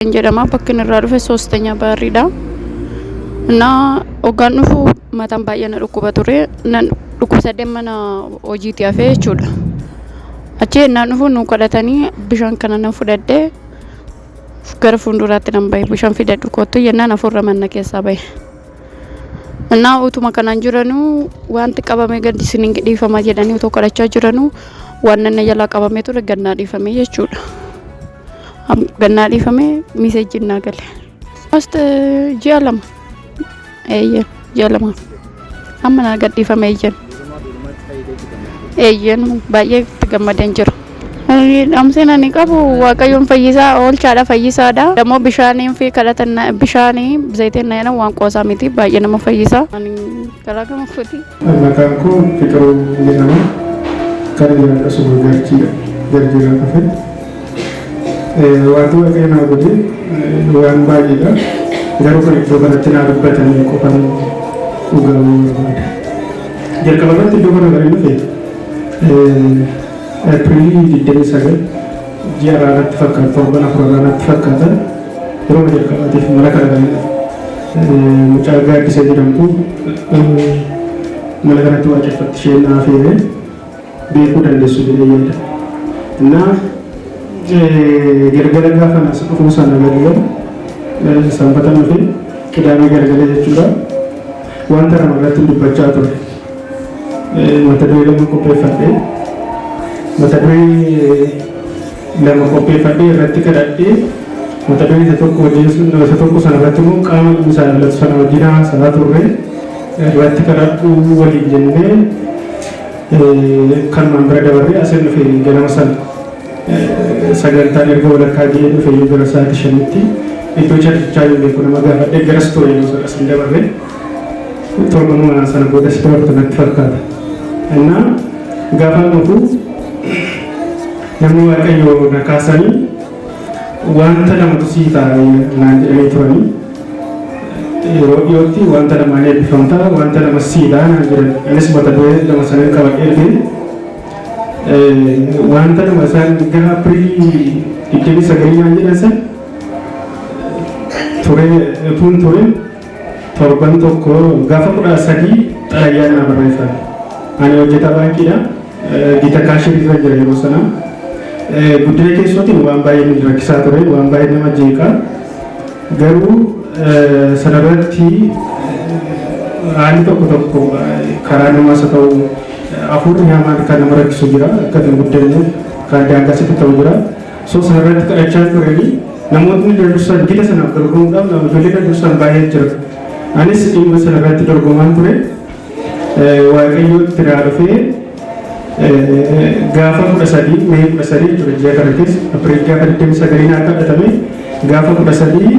Kan jedhama bakki inni irraa dhufe soostanya baarriidha. Innaa hoggaan dhufu mataan baay'ee na dhukkuba ture. Nan dhukkubsadhee mana hojiitii hafee jechuudha. Achi ennaan dhufu nu kadhatanii bishaan kana nan fudhadhee gara fuulduraatti nan bahe bishaan fidadhu kottu jennaan hafuurra manna keessaa bahe. Innaa utuma kanaan jiranuu wanti qabamee gadi isin hin dhiifama jedhanii otoo kadhachaa jiranuu waan nanna jalaa qabamee ture gad naa dhiifame jechuudha. Am- Gannaa dhiifamee miseejjiin naa gale. Most eh, ji'a lama. Eeyyeen ji'a lama. Amma naa gadhiifame eeyyeen. Eeyyeen baay'ee itti gammadeen jira. Ani Dhamseen ani qabu waaqayyoon fayyisaa oolchaadha fayyisaadha. Dammoo bishaaniin fi kadhatan bishaanii zayitiin na jedhan waan qoosaa miti baay'ee nama fayyisaa. Ani garaa gama kooti. Maqaan koo Fiqiruu jedhama. Kan jiraadhu asuma Garjiidha. Garjiirraa dhufe. Wanti Waaqayyo naa godhe waan baay'eedha. Garuu kan iddoo kanatti naa dubbatanii qofan dhugaa barbaada. Jalqaba irratti iddoo kana kan dhufe Eepiriilii 29 ji'a irraa natti fakkaata torban afur irraa natti fakkaata. Yeroo jalqabaatiif mana kana galee mucaa gaaddisa jedhamtu mana kanatti waaqeffatti isheen naa feene beekuu dandeessu jedhee yaada. Innaa gargara gaafa nas dhufuu sana galgala sanbata nufi qidaamee gargala jechuudha. Wanta kana irratti dubbachaa ture. Mata duree lama qopheeffadhee mata duree lama qopheeffadhee irratti kadhadhee mata duree isa tokko wajjin sun isa tokko sana irratti immoo qaama inni isaa ilaalatu sana wajjin haasa'aa turre irratti kadhadhuu waliin jennee kanumaan bira dabarree asiin dhufe ganama sana sagantaan erga walakkaa ga'ee dhufe yoo gara sa'aatii shanitti iddoo carrichaa yoo beeku nama gaafadhee garas ture yoo sana asiin dabarree torbanuma sana booda si dabartu natti fakkaata. Innaa gaafa dhufu Namni Waaqayyo na kaasanii wanta lamatu sii ta'a naan jedhanii turanii yeroo dhiyootti wanta lamaan eebbifamta wanta lama sii ta'a naan jedhan anis mata duree lama sanan qabadhee fi wanta lama isaan gara apirii digdamii sagalii naan jedhan san turee tuun turee Torban tokko gaafa kudha sadii xalayaa naa barreessan. Ani hojjetaa baankiidha. Gita kaashiin irra jira yeroo sana. Guddina keessootiin waan baay'ee nu rakkisaa ture, waan baay'ee nama jeeqa. Garuu sanarratti haalli tokko tokko karaa namaas haa ta'u hafuurri hamaan kan nama rakkisu jira. Akka hin guddanneef kan daangaa sitti ta'u jira. Sosa irratti kadhachaa turanii namootni kan dursan gita sanaaf dorgomuudhaaf nama ijoollee kan dursan baay'ee jira. Anis dhimma sana irratti dorgomaan ture. Waaqayyoo itti naa dhufee gaafa kudha sadii mee kudha sadii ture ji'a kana keessa Apriil gaafa 29 naa kadhatame gaafa kudha sadii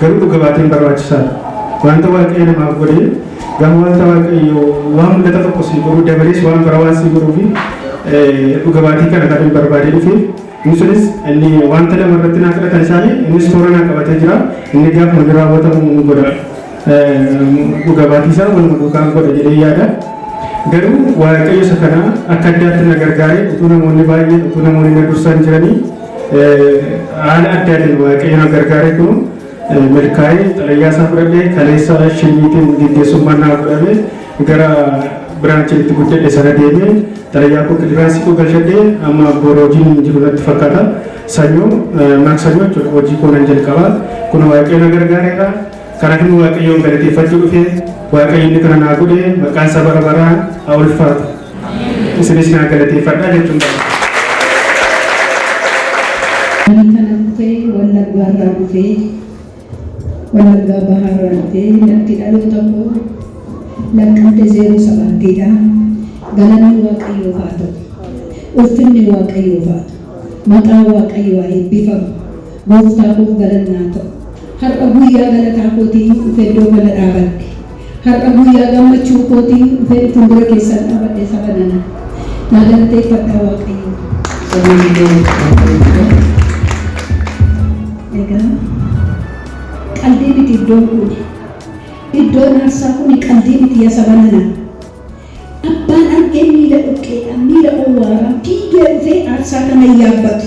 Garuu dhuga baateen barbaachisaadha. Wanta Waaqayyo namaaf godhe gama wanta Waaqayyo waan mul'ata tokko sii godhu dabalees waan bara waan sii godhuu fi dhuga baatii kana kan hin barbaadee dhufe inni sunis inni wanta lama irratti naa kadhatan isaanii innis toora naa qabatee jira inni gaafa hojii raawwatamu ni godha. Dhuga baatii isaa waluma duukaan godha jedhee yaada. Garuu Waaqayyo isa kana akka addaatti na gargaare utuu namoonni baay'een utuu namoonni na dursaan jiranii Haala addaatiin Waaqayyo na gargaareetu milkaa'ee xalayaa isaa fudhadhee kaleessa shimiitiin geggeessummaan naa godhame gara biraanchii itti guddadhe sana deemee xalayaa koo kiliraansiitu galchadhee amma boora hojiin hin jiru natti fakkaata. Sanyoo maksanyoo jechuudha hojii koo nan jalqaba. Kun Waaqayyo na gargaareera. Karaa inni Waaqayyoon galateeffachuu dhufe Waaqayyo inni kana naa godhe maqaan isaa bara baraan haa ulfaatu. Isinis naa galateeffadhaa jechuun barbaada. Ani kana dhufee wallaggaa irraa dhufee wallaggaa bahaa irraa dhufee lafti dhaloota koo lakkante zeeroo sabaattiidha. Galanni waaqayyoof haa ta'u. Ulfinni waaqayyoof haa ta'u. Maqaan waaqayyoo haa eebbifamu. Gooftaa koof galanni haa ta'u. Har'a guyyaa galataa kootii hin dhufe iddoo kana dhaabadhe. Har'a guyyaa gammachuu kootii hin dhufe fuuldura keessan dhaabadhe saba nana. Naa galateeffadhaa Waaqayyoo. Egaa qaldii miti iddoon kun. Iddoon aarsaa kun qaldii miti yaa saba nana. Abbaan argee miila dhuqqeedhaan miila owwaaraan fiigee dhufee aarsaa kana hin yaabbatu.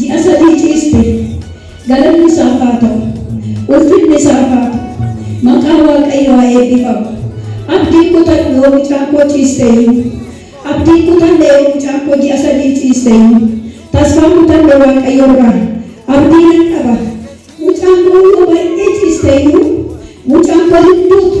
ji'a sadii ciiste. Galanni isaaf haa ta'u. Ulfinni isaaf haa ta'u. Maqaan Waaqayyoo haa eebbifamu. Abdiin kutadhu yoo mucaan koo ciiste iyyuu. Abdiin kutanne yoo mucaan koo ji'a sadii ciiste iyyuu. Tasfaan kutanne Waaqayyo irraa abdii nan qaba. Mucaan koo yoo baay'ee ciiste iyyuu mucaan koo hin duutu.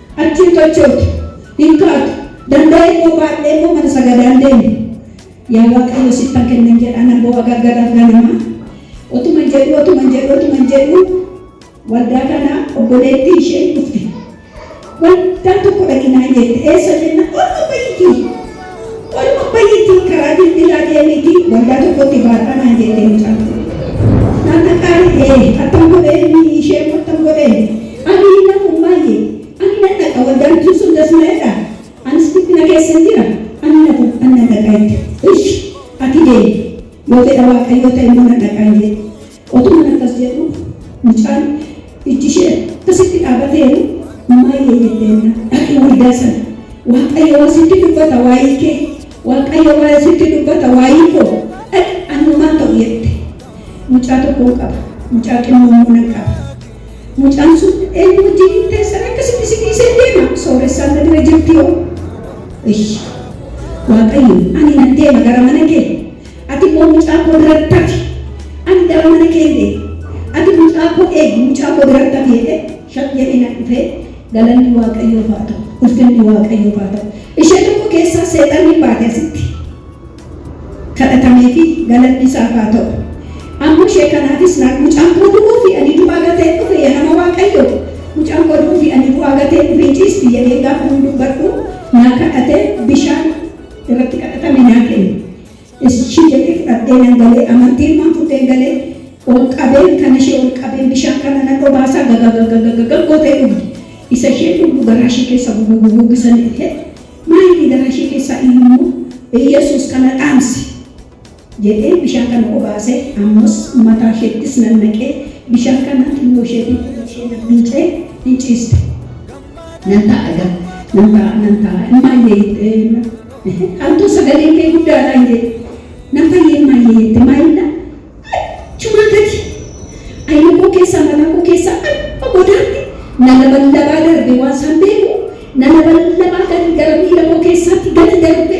Achi hin qachooftu, hin kaatu, danda'ee koo baadhee koo mana sagadaa hin deemu. Yaa Waaqayyo sittan kennan jedhaa nan boo'a galgalaaf ganama. Otuman jedhuu, otuman jedhuu, otuman jedhuu waldaa kana obboleettii isheen dhufte. Waldaa tokko dhaqi naan jette. Eessa jennaan? Olma ba'iitii. Tole Abbayyittiin karaa bilbilaa deemiiti waldaa tokkotti baadhaa naan jette mucaan kun. Naan qaqqaali ee attam godhee inni ishee immoo attam godhee ani hin dhafu maayye ani nan dhaqa waldaan tun sun das na jedha anis dhiphina keessan jira ani hin dhafu ani nan dhaqa jette ishi ati deemi yoo fedha waaqayyoo ta'e immoo nan dhaqaan jedhe. Utuman akkas jedhuu mucaan ijji ishee akkasitti dhaabateeru Maayee jette na dhaqi waldaa sana Waaqayyo waa sitti dubbata waayii kee Waaqayyo waa sitti dubbata waayii koo dhaqi ani homaa ta'u jette mucaa tokkoon qaba mucaa xinnoo immoo nan qaba mucaan sun eenyu wajjin hin teessan akkasitti si dhiisee deema sooressaan na bira jirti yoo Ish. Waaqayyo ani nan deema gara mana kee Ati immoo mucaa koo biratti hafi, ani gara mana keen deema. Ati mucaa koo eegi, mucaa koo biratti hafi jedhee shaq jedhee na dhufee galanni Waaqayyoof haa ta'u, ulfinni Waaqayyoof haa ta'u. Ishee tokko keessaa seexanni baate asitti. Kadhatameefi galanni isaaf haa ta'u. Amma ishee kanaafis naa mucaan koo du'uu fi ani du'aa gatee dhufe yaa nama Waaqayyoo mucaan koo du'uu fi ani du'aa gatee dhufe ciisti jedhee gaafa hin dubbadhu naa kadhatee bishaan irratti kadhatame naa kenne. Ishii jedhee fudhadhee nan galee amantii ilmaan fudhee galee ol qabeen kan ishee ol qabeen bishaan kana nan obaasaa gagagagagagaga gootee dhugdi. Isa isheen dhugdu garaa ishee keessa gugugugugisa ni dhufee maayilii garaa ishee keessaa ilmoo Yesuus kana dhaamse. jedhee bishaan kana obaase, ammas mataa isheettis nannaqee bishaan kana xinnoo isheetiin fuula ishee nabbiicee in ciiste. Nan taa'a egaa, nan taa'a, nan taa'a, in maayyee jettee jennaan, Haaltuu sagaleen kee guddaadha in jedhe. Nan fayye in maayyee jette, maayillaan achumaa gadi ayna koo keessaa, mataa koo keessaa hamma godaatti na laballabaa darbe, waan isaan beeku na laballabaa gadi gara miila koo keessaatti gadi darbe,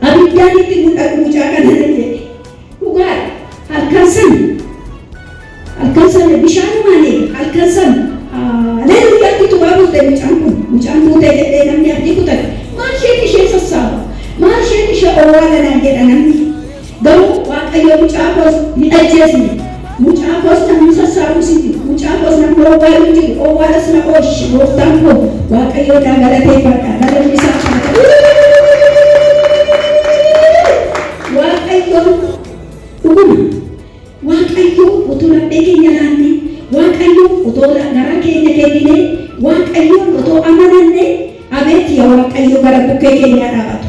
Abiddaan itti mul'atu mucaa kana nan jedhe. Dhugaadha. Halkan sana halkan sana bishaanumaan eega halkan sana haleluuyaa itti tumaa bulte mucaan kun mucaan duute jedhee namni abdii kutate maal isheet ishee sassaaba maal isheet ishee owwaala naan jedha namni garuu waaqayyo mucaa koos hin ajjeesne Mucaa koos nan hin sassaabuu sitti, mucaa koos nan dhoowwaa hin jiru, owwaalas na oolche, gooftaan koo Waaqayyoon naa galateeffadha, galanni isaaf haa ta'u! Waaqayyoon! Dhuguma, Waaqayyoo otoo laphee keenya laannee, Waaqayyoo otoo garaa keenya kenninee, Waaqayyoon otoo amanannee, abeet ya Waaqayyo gara bukkee keenyaa dhaabatu,